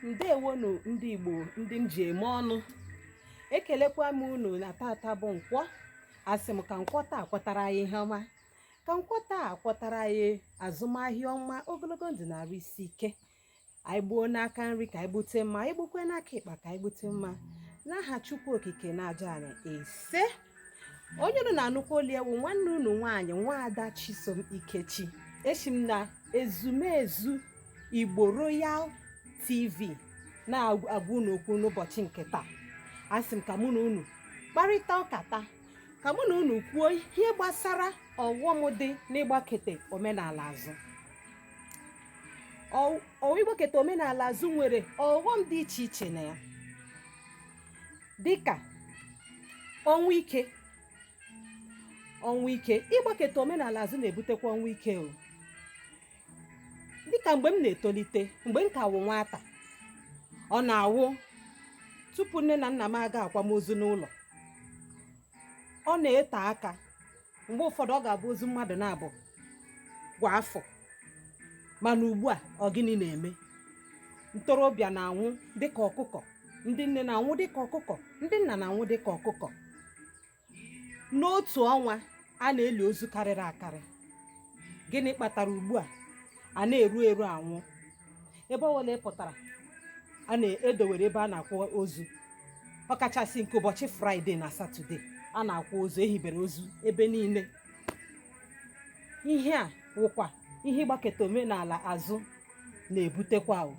ndewonu ndị igbo ndị m ji eme ọnụ ekelekwa m unu na tata bụ nkwọ asị m ka nkwọ taa kwọtara anyị ihe ọma ka nkwọ taa kwọtara anyị azụmahịa ọma ogologo ndụ na arụ isi ike anyị gbuo n'aka nri ka anyị gbute mma anyị gbukwe n'aka ịkpa ka anyị gbute mma n'aha chukwu okike na aja anyị ise onye unu na-anụkwa olu ya wụ nwanne unu nwaanyị nwaada chisom ikechi eshi m na ezumezu igbo royal tv na-agwa unu okwu n'ụbọchị nke taa asị m ka mụ na unu kparịta ụka taa ka mụ na unu kwuo ihe gbasara ọghọm dị n'ịgbakete omenala azụ ịgbaketa omenala azụ nwere ọghọm dị iche iche na ya dịka ọnwụ ike ọnwụ ike ịgbaketa omenala azụ na-ebutekwa ọnwụ ike o dịka mgbe m na-etolite mgbe m ka wụ nwata ọ na-awụ tupu nne na nna m aga akwamozu n'ụlọ ọ na-ete aka mgbe ụfọdụ ọ ga-abụ ozu mmadụ naabọ kwa afọ mana ugbu a ọ gịnị na-eme ntorobịa na-anwụ dịka ọkụkọ ndị nne na-anwụ dịka ọkụkọ ndị nna na-anwụ dịka ọkụkọ n'otu ọnwa a na-eli ozu karịrị akarị gịnị kpatara ugbu a a na-eru eru anwụ ebe ọ bụla ị pụtara a na-edowere ebe a na-akwa ozu ọkachasị nke ụbọchị fraịde na satọde a na-akwa ozu ehibere ozu ebe niile ihe a wụkwa ihe ịgbaketa omenala azụ na-ebutekwa o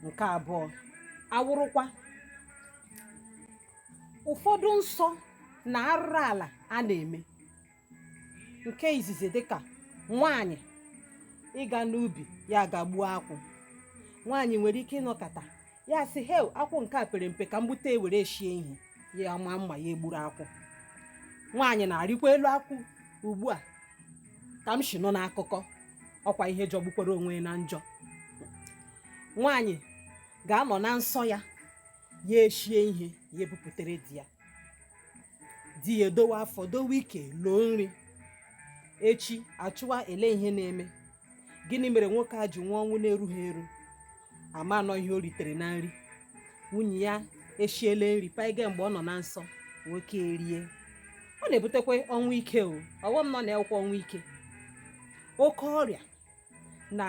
nke abụọ awụrụkwa ụfọdụ nsọ na arụrụ ala a na-eme nke izizi dịka nwaanyị ịga n'ubi ya ga gbuo akwụ nwaanyị nwere ike ịnọkata ya sị he akwụ nke a pere mpe ka m gbute ya were shie ihe ya amaa mma ya egburu akwụ nwaanyị na-arịkwa elu akwụ ugbu a ka m shi nụ n'akụkọ ọkwa ihe jọgbukwara onwe ya na njọ nwaanyị ga-anọ na nsọ ya ya eshie ihe ya ebupụtere di ya di ya edowe afọ dowe ike loo nri echi achọwa ele ihe na-eme gịnị mere nwoke a ji nwụọ ọnwụ na-erughị eru ama na ọ ihe o ritere na nri nwunye ya eshiele nri panye mgbe ọ nọ na nsọ nwoke erie ọ na-ebutekwa ọnwụ ike o ọghọm nọ na ya wụkwa ọnwụ ike oke ọrịa na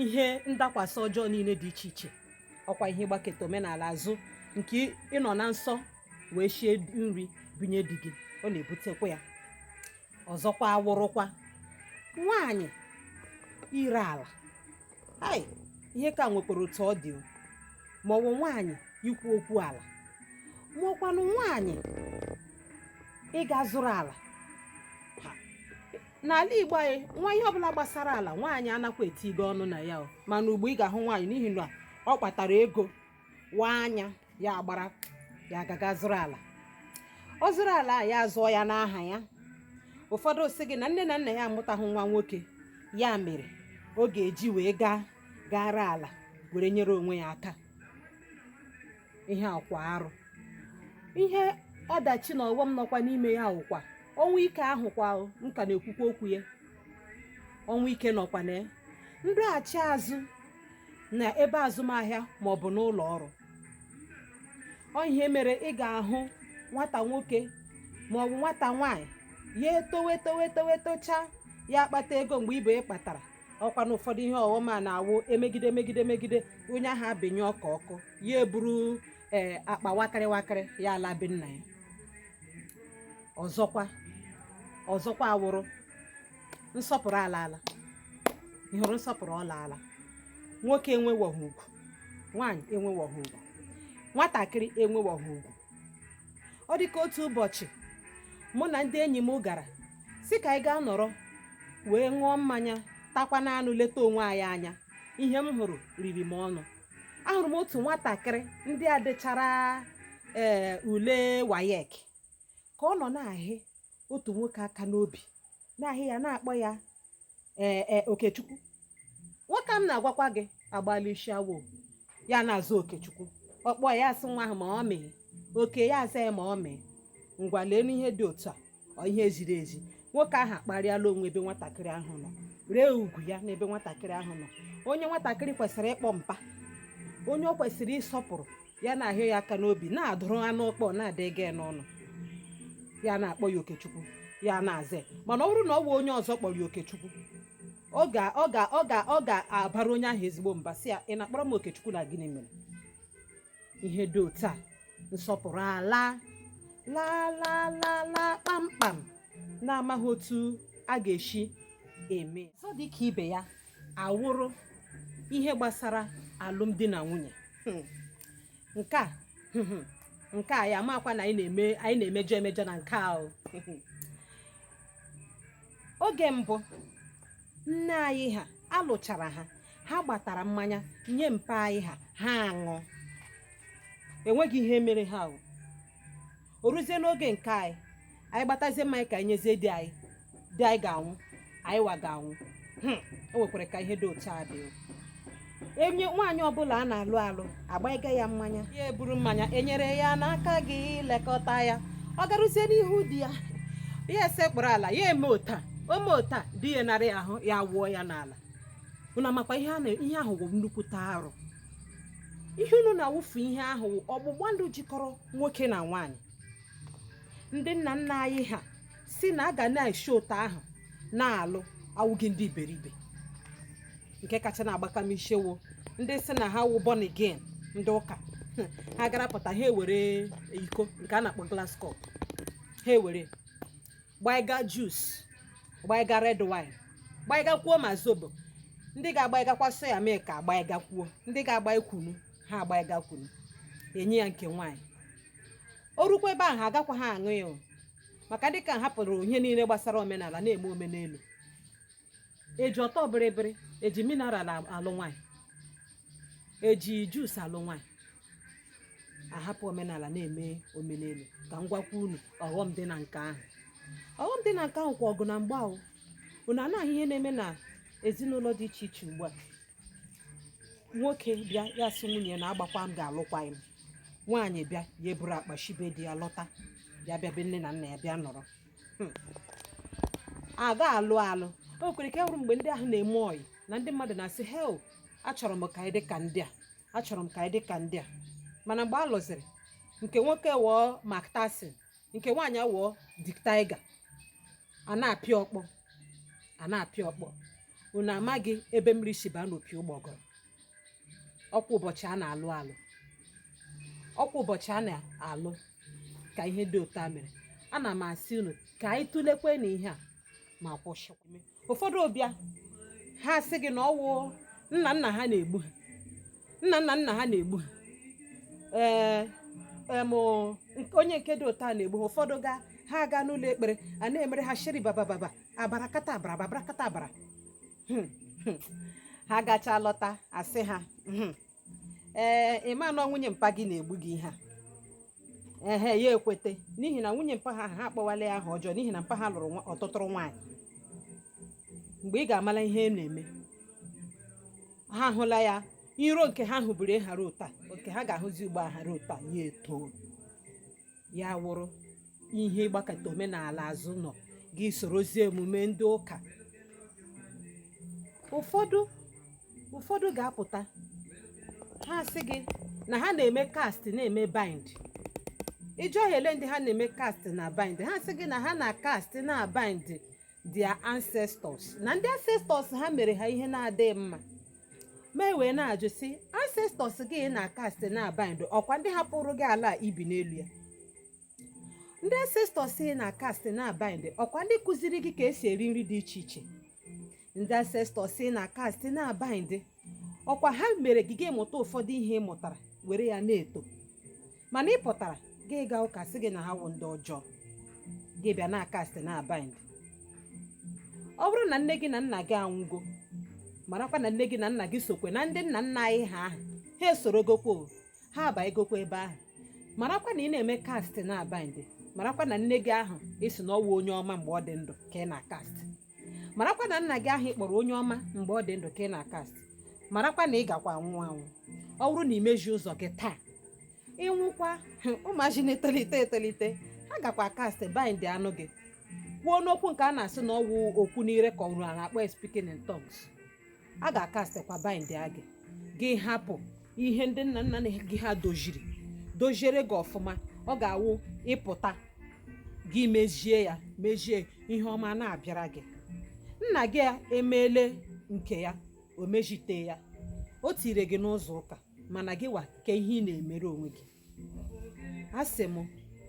ihe ndakwasị ọjọọ niile dị iche iche ọkwa ihe ịgbaketa omenala azụ nke ịnọ na nsọ wee shie nri binye di gị ọ na-ebutekwa ya ọzọkwa awụrụkwa nwaanyị ire ala hai ihe ka nwekwara otu ọ dị ma ọ bụ nwaanyị ikwu okwu ala ma ọkwanụ nwaanyị ịga zụrụ ala n'ala igbo anyị nwa ihe ọbụla gbasara ala nwaanyị anakwa etinye ọnụ na ya mana ugbua ị ga-ahụ nwaanyị n'ihi na ọ kpatara ego waa anya ya agbara ya agaga zụrụ ala ọ zụrụ ala ya azụọ ya n'aha ya ụfọdụ sị gị na nne na nna ya amụtaghị nwa nwoke ya mere ọ ga-eji weghara ala were nyere onwe ya aka ihe a wụkwa arụ ihe ọdachi na ọghọm nọkwa n'ime ya awụkwa ọnwụ ike ahụkwa nke a na-ekwukwa okwu ya ọnwụ ike nọkwa na ya ndọghachi azụ na ebe azụmahịa ma ọ bụ n'ụlọ ọrụ ọ ihe mere ị ga-ahụ nwata nwoke ma ọ bụ nwata nwaanyị ya etowe towe towe tochaa ya akpata ego mgbe ibe ya kpatara ọkwa na ụfọdụ ihe ọghọm a na-awụ emegide megide megide onye ahụ abịanye ọkụ ọkụ ya eburu ee akpa wakịrị wakịrị ya ala be nna ya ọzọkwa ọzọkwa awụrụ nsọpụrụ alaala ị hụrụ nsọpụrụ ọ laala nwoke enwewoghị ugwu nwaanyị enwewoghị ugwu nwatakịrị enwewoghị ugwu ọ dị ka otu ụbọchị mụ na ndị enyi m gara sị ka anyị gaa nọrọ wee ṅụọ mmanya takwanụ anụ leta onwe anyị anya ihe m hụrụ riri m ọnụ ahụrụ m otu nwatakịrị ndị a dechara ee eh, ule waec ka ọ nọ na-ahị otu nwoke aka n'obi na-ahị ya na-akpọ ya ee e, okechukwu nwoke m na-agwakwa gị agbala isi awọ ya na-aza okechukwu ọ kpọọ ya asị nwa ahụ ma ọ mee oke ya aza ya ma ọ mee ngwa leenụ ihe dị otu a ọ ihe ziri ezi nwoke ahụ akparịala onwe n'ebe nwatakịrị ahụ nọ ree ugwu ya n'ebe nwatakịrị ahụ nọ onye nwatakịrị kwesịrị ịkpọ mpa onye ọ kwesịrị ịsọpụrụ ya na-ahị ya aka n'obi na-adụrụ anụ ọkpọ na-adịghị n'ọnụ ya na-akpọ ya okechukwu ya na-aza mana ọ bụrụ na ọ bụ onye ọzọ kpọrọ ya okechukwu ọ ga ọ ga ọ ga ọ ga-abara onye ahụ ezigbo mba sị ya ị na-akpọrọ m okechukwu na gịnị mere ihe dị otu a nsọpụrụ ala laa laa laa laa kpamkpam na amaghị otu a ga-esi eme ọzọ dị ka ibe ya awụrụ ihe gbasara alụmdi na nwunye hmm. nke a hmm, hmm. nke a ya makwa na anyị na-emejọ emejọ na nke ahụ oge mbụ nne anyị ha a lụchara ha ha gbatara mmanya nye mpa anyị ha ha aṅụọ enweghị ihe mere ha ahụ o ruzie n'oge nke anyị anyị gbatazie mmanya ka anyị nyezie di anyị di anyị ga-aṅụ anyị wa ga-aṅụ Hmm, o nwekwara ka ihe dị otu a dị enye nwaanyị ọbụla a na-alụ alụ agbaiga ya mmanya ya eburu mmanya enyere ya n'aka gị lekọta ya ọ garuzie n'ihu di ya ya esekpuru ala ya eme ota o me ota di ya anara ahụ ya wụọ ya n'ala unu amakwa ihe a na- ihe ahụ bụ nnukwute arụ ihe unu na-awụfu ihe ahụ ọgbụgba ndụ jikọrọ nwoke na nwaanyị ndị nna nna anyị ha sị na a ga na-esi ota ahụ na-alụ awụghị ndị iberibe nke kacha na-agbaka m ishi wụ ndị sị na ha wụ born again ndị ụka ha gara pụta ha ewere iko nke a na-akpọ glass cup ha ewere gbaiga juice gbaiga red wine gbaigakwuo ma zobo ndị ga-agbaigakwa soya milk agbaigakwuo ndị ga-agbai kunu ha agbaiga kunu enye ya nke nwaanyị o rukwa ebe ahụ ha agakwa ha aṅụ ya o. maka dịka a hapụrụ ihe niile gbasara omenala na-eme omenelu eji ọtọ bịrịbịrị eji mineral alụ nwaanyị eji juice alụ nwaanyị ahapụ omenala na-eme omenelu ka m gwakwa unu ọghọm dị na nke ahụ ọghọm dị na nke ahụ kwa ọgụ na mgba ahụ unu na-ahụ ihe na-eme na ezinụlọ dị iche iche ugbu a nwoke bịa ya sị nwunye na agbakwa m ga-alụkwaghị m nwaanyị bịa ya eburu akpa shi be di ya lọta ya bịa be nne na nna ya bịa nọrọ a ga-alụ alụ o kwere ka a hụrụ mgbe ndị ahụ na-eme ọyị na ndị mmadụ na-asị hei achọrọ m ka anyị dị ka ndị a achọrọ m ka anyị dị ka ndị a mana mgbe a lụziri nke nwoke wụọ Mike Tyson nke nwaanyị wụọ Dick Tiger a na-apịa ọkpọ a na-apịa ọkpọ unu amaghị ebe mmiri si baa n'opi ụgbọgọrọ ọkwa ụbọchị a na-alụ alụ ọkwa ụbọchị a na-alụ ka ihe dị ota mere ana m asị unu ka anyị tulekwanụ ihe a ma kwụsị ụfọdụ bịa ha sị gị na ọ wụ nna nna ha na-egbu ha nna nna nna ha na-egbu ha ee em onye nke dị ota na-egbu ha ụfọdụ ga ha aga n'ụlọ ekpere a na-emere ha shiri baba baba abarakata abara abarakata abara hmm, hmm. ha gacha lọta asị ha hmm. ee eh, ị ma na nwunye mpa gị na-egbu gị ihe a ehe ya ekweta n'ihi na nwunye mpa ha ha akpọwala ya aha ọjọọ n'ihi na mpa ha lụrụ ọtụtụrụ nwaanyị mgbe ị ga-amala ihe na-eme ha ahụla ya iro nke ha hụburu hara ota nke ha ga-ahụzi ugbo ahara ota ya eto ya wụrụ ihe ị gbakụta omenala azụ nọ gị sorozie emume ndị ụka ụfọdụ ụfọdụ ga-apụta ha sị gị na ha na-eme cast na-eme bind ị jụọ ha ele ndị ha na-eme cast na bind ha sị gị na ha na cast na bind their ancestors na ndị ancestors ha mere ha ihe na-adịghị mma ma ewee na-ajụ sị ancestors gị ị na-acast na-abind ọkwa ndị hapụrụ gị ala a i bi n'elu ya ndị ancestors ị na-acast na-abind ọkwa ndị kụziri gị ka esi eri nri dị iche iche ndị ancestors ị na-acast na-abind ọkwa ha mere gị gị mụta ụfọdụ ihe ị mụtara were ya na-eto mana ị pụtara gị gaa ụka sị gị na ha wụ ndị ọjọọ gị bịa na-acast na-abind ọ bụrụ na nne gị na nna gị anwụgo marakwa na nne gị na nna gị sokwe na ndị nna nna anyị ha ahụ ha esorogokwa o, ha abagokwa ebe ahụ marakwa na ị na-eme cast na bind marakwa na nne gị ahụ ị sị na ọwụ onye ọma mgbe ọ dị ndụ ka ị na-acast marakwa na nna gị ahụ ị kpọrọ onye ọma mgbe ọ dị ndụ ka ị na-acast marakwa na ị gakwa anwụ anwụ ọ bụrụ na imezi ụzọ gị taa ị nwụkwa ụmụazị na-etolite etolite ha gakwa acast bindịanụ gị kwuonụ okwu nke a na-asị na ọwụ okwu n'ire ka ọ na-akpọ speaking in tongues a ga-acastịkwa bindịa gị gị hapụ ihe ndị nna nna gị ha doziri doziere gị ọfụma ọ ga-awụ ị pụta gị mezie ya mezie ihe ọma na-abịara gị nna gị emeele nke ya o mezite ya o tire gị n'ụzọ ụka mana gị wa kee ihe ị na-emere onwe gị asị m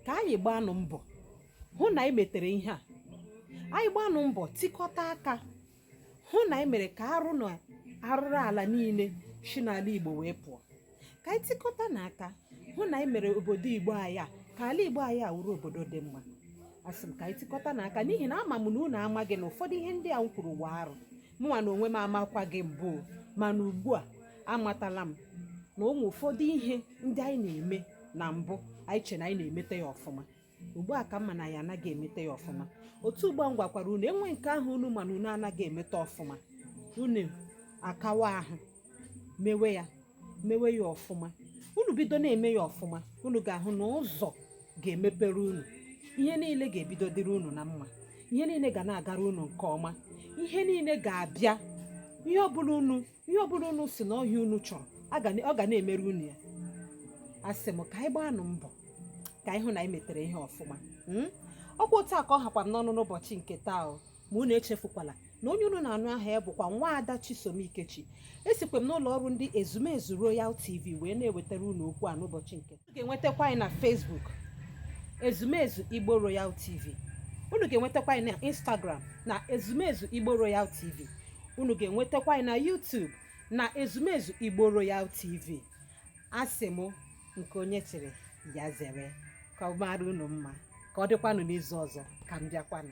ka anyị gbanụ mbọ hụ na anyị metere ihe a anyị gbanụ mbọ tikọta aka hụ na anyị mere ka arụ na arụrụ ala niile si n'ala igbo wee pụọ ka anyị tikọtanụ aka hụ na anyị mere obodo igbo anyị ka ala igbo anyị a wụrụ obodo dị mma asị m ka anyị tikọtanụ aka n'ihi na ama m na unu amaghị na ụfọdụ ihe ndị a m kwuru wụ arụ mụnwa n'onwe m amakwagị mbụ mana ugbu a amatala m na o nwe ụfọdụ ihe ndị anyị na-eme na mbụ anyị che na anyị na-emeta ya ọfụma ugbu a ka m ma na anyị anaghị emete ya ọfụma otu ugbu a m gwakwara unu e nwee nke ahụ unu ma na unu anaghị emete ọfụma unu akawa ahụ mewe ya mewe ya ọfụma unu bido na-eme ya ọfụma unu ga-ahụ na ụzọ ga-emepere unu ihe niile ga-ebido dịrị unu na mma ihe niile ga na-agara unu nke ọma ihe niile ga-abịa ihe ọbụla unu ihe ọbụla unu sị na ọ ihe unu chọrọ ọ ga na-emere unu ya asị m ka anyị gbaanụ mbọ ka anyị hụ na anyị metere ihe ọfụma hmm? ọkwa otu a ka ọ hakwa m n'ọnụ n'ụbọchị nke taa o ma unu echefukwala na onye unu na-anụ aha ya bụkwa Nwada Chisom Ikechi esikwa m n'ụlọ ọrụ ndị Ezumezu Royal TV wee na-ewetara unu okwu a n'ụbọchị nke unu ga-enwetakwa anyị na Facebook ezumezu Igbo Royal TV unu ga-enwetakwa anyị na Instagram na ezumezu Igbo Royal TV unu ga-enwetakwa anyị na YouTube na ezumezu Igbo Royal TV asị m nke onye chiri ya zere ka ọ mara unu mma ka ọ dịkwanụ n'izu ọzọ ka m bịakwanụ